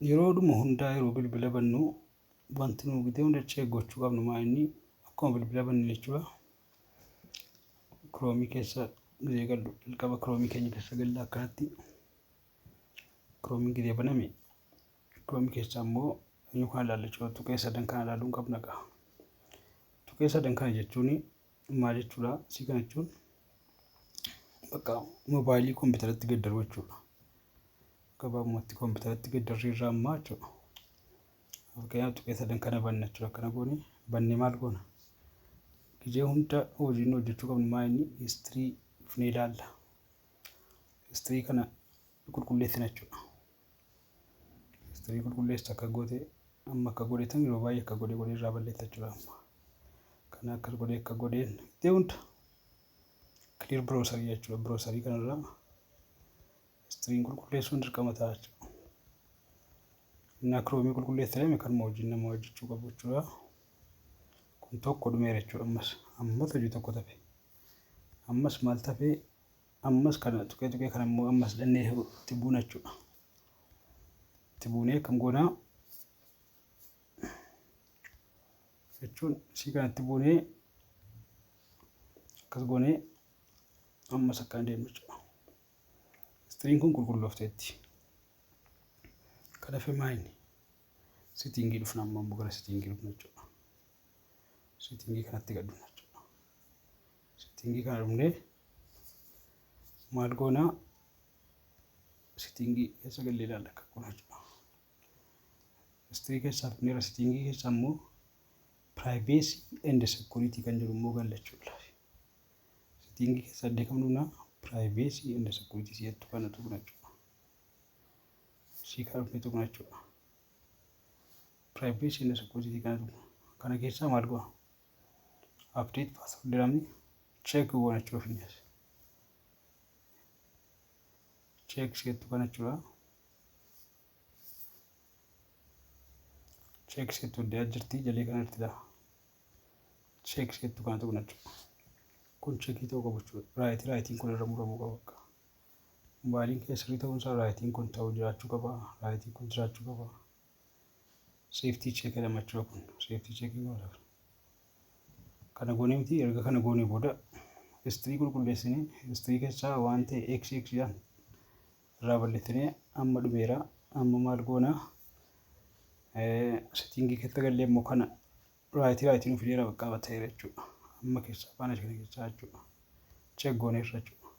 Yeroodhuma hundaa yeroo bilbila bannu wanti nu gitee hunda check gochuu qabnu maa inni akkuma bilbila banne jechuudha. Kiroomii keessa gizee gallu jalqaba kiroomii keenya keessa galla akkanatti kiroomiin gizee baname kiroomii keessa ammoo eenyu kana ilaalla jechuudha tuqee sadan kana ilaaluun qabna qa'a. Tuqee sadan kana jechuun maal jechuudha isii kana jechuun bakka mobaayilii kompiitaratti gaddaruu jechuudha. Gabaabumatti kompiitaratti gaddarrii irraa ammaa jechuudha. Fakkeenyaaf tuqee sadan kana banna jechuudha akkana goone bannee maal goona? Gijee hunda hojiin hojjechuu qabnu maa inni istirii dhufnee ilaalla. Istirii kana qulqulleessina jechuudha. History qulqulleessu akka goote amma akka godhe tan yeroo baay'ee akka godhe godhe irraa balleessa jechuudha amma. Kana akka godhe akka godheen itti hunda clear browser jechuudha browser kanarraa history qulqulleessuun dirqama ta'a jechuudha. Inni akroomii qulqulleessa jedhame kanuma wajjin nama hojjechuu qabu jechuudha. Kun tokko dhumeera jechuudha ammas ammas hojii tokko tafe ammas maal tafe Ammas kana tuqee tuqee kana immoo ammas dhannee itti buuna jechuudha. Itti buunee akkam goonaa jechuun isii kana itti buunee akkas goonee ammas akkaan deemna jechuudha. Istiriin kun qulqulloofteetti. Kana fee maayini sitiingii dhufna amma immoo gara sitiingii dhufna jechuudha. Sitiingii kanatti gad dhufna jechuudha. Sittingii kana dhumnee maal goona sittingii keessa gallee ilaalla akka kun hojjeta. History keessaa dhumneera sittingii keessa immoo privacy and security kan jedhu immoo gallachuu ilaalla. Sittingii keessa addee kam dhumna privacy and security si'attu kana tuqna jechuudha. Sii kana dhumnee tuqna jechuudha. Privacy and security kana tuqna. Kana keessaa maal goona? update password jedhamni check goonachuu fi check isheettu kana jechuudha. Check isheettu adda jirti jalii kana irratti lafa. Check isheettu kana tuqna jechuudha. Kun checkii ta'uu qabu jechuudha. Raayitii raayitiin kun irra muramuu qaba akka. Mobaayiliin kee sirrii ta'uunsaa raayitiin kun ta'uu jiraachuu qaba. Raayitiin kun jiraachuu qaba. seeftii cheekidha machoo kun seeftii cheekii godhaaf kana goonee miti erga kana goonee booda istirii qulqulleessinee istirii keessaa waan ta'e x x dhaan irraa balleessinee amma dhumeera amma maal goona settingii keessa gallee immoo kana raayitii raayitii nuuf fideera baqqaa batteera jechuudha amma keessaa faana kana keessaa jechuudha cheek gooneerra jechuudha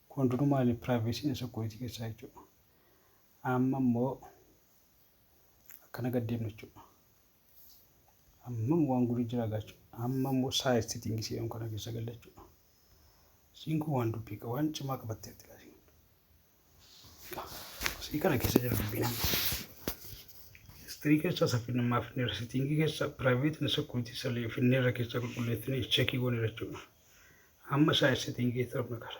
kun hundinuu maali piraayiveesiin isa kooyitii keessaa jechuudha Amma immoo akkana gad deemna jechuudha. Amma immoo waan guduu jira gaachuu. Amma immoo size setting jedhamu kana keessa galla jechuudha. Siin kun waan dubbii qaba waan cimaa qabattee jira. Sii kana keessa jira dubbiin amma. History keessa saffina ammaa finneerra setting keessa private and security salee finneerra keessa qulqulleessine checkii goone jechuudha. Amma size setting keessa qabna qara.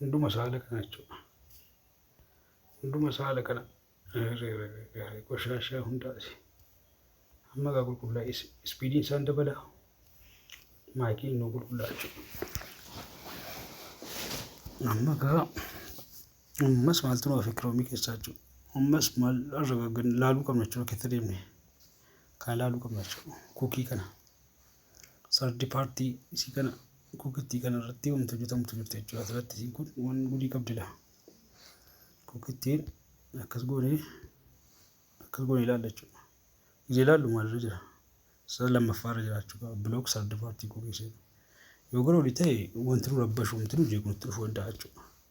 hunduma saala kana jechuudha. Hunduma saala kana qoshashaa hundaati. Amma gaa qulqullaa ispiidiin isaan dabala. Maayikiin nu qulqullaa jechuudha. Amma gaa ammas maaltu nu hafe kiroomii keessaa jechuudha. Ammas maal irra laaluu qabna jechuudha keessa deemne. Kana laaluu qabna jechuudha. Kuukii kana. Sardi paartii isii kana kukittii kana irratti wanti hojjetamtu jirti jechuudha. Asirratti isiin kun waan gudii qabdila. Kukittiin akkas goonee akkas goonee ilaalla jechuudha. Ija ilaallu maalirra jira? Sara lammaffaa irra jiraachuu qaba. Bilook sardi paartii kukisee. Yoo gara olii ta'e wanti nu rabbashu wanti nu jeequ nutti dhufuu danda'a jechuudha.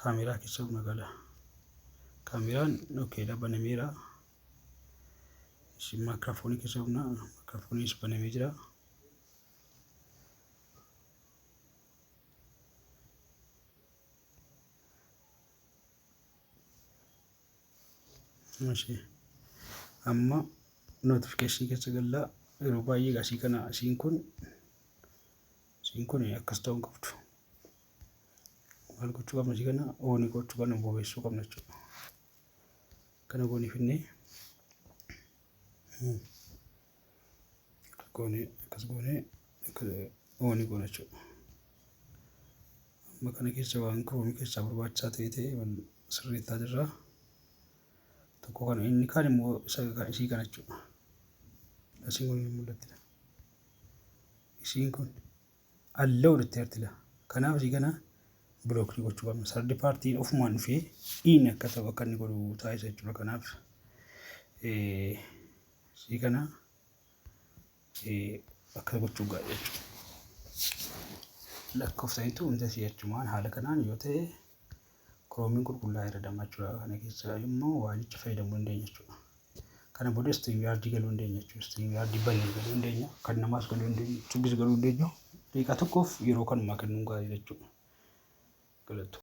kaameeraa keessa buna gala. Kaameeraan okeedha banameera. Isin maayikiraafoonii keessa buna maayikiraafooniis banamee jira. Mashee. Amma notification keessa galla yeroo baay'ee asii kana asiin kun asiin kun akkas ta'uu hin qabdu. maal gochuu qabna si kana ooni gochuu qabna bobeessuu qabna jechuudha kana goonii finnee akkas goonee akkas goonee ooni goona jechuudha amma kana keessa waan kiroomi keessaa barbaachisaa ta'e ta'e wal sirreessaa jirra tokko kana inni kaan immoo isa isii kana jechuudha asiin kun hin mul'attidha isiin kun Allow jetteerti la. Kanaaf asii kana block ni gochuu qabna. Third party ofumaan dhufee in akka ta'u akka inni godhu taasisa jechuudha. Kanaaf eh, asii kana eh, akka gochuu gaadha jechuudha. Lakkoofsa hin ta'u inta si'achumaan haala kanaan yoo ta'e Chrome qulqullaa'aa irra damma jechuudha. Kana keessa immoo waalicha fayyadamuu dandeenya jechuudha. Kana booda StreamYard galuu dandeenya jechuudha. StreamYard banee galuu dandeenya. Kan namaas galuu dandeenya. Yuutuubis galuu dandeenya. Daqiiqaa tokkoof yeroo kanumaa kennuun gaarii jechuudha. Galatoo.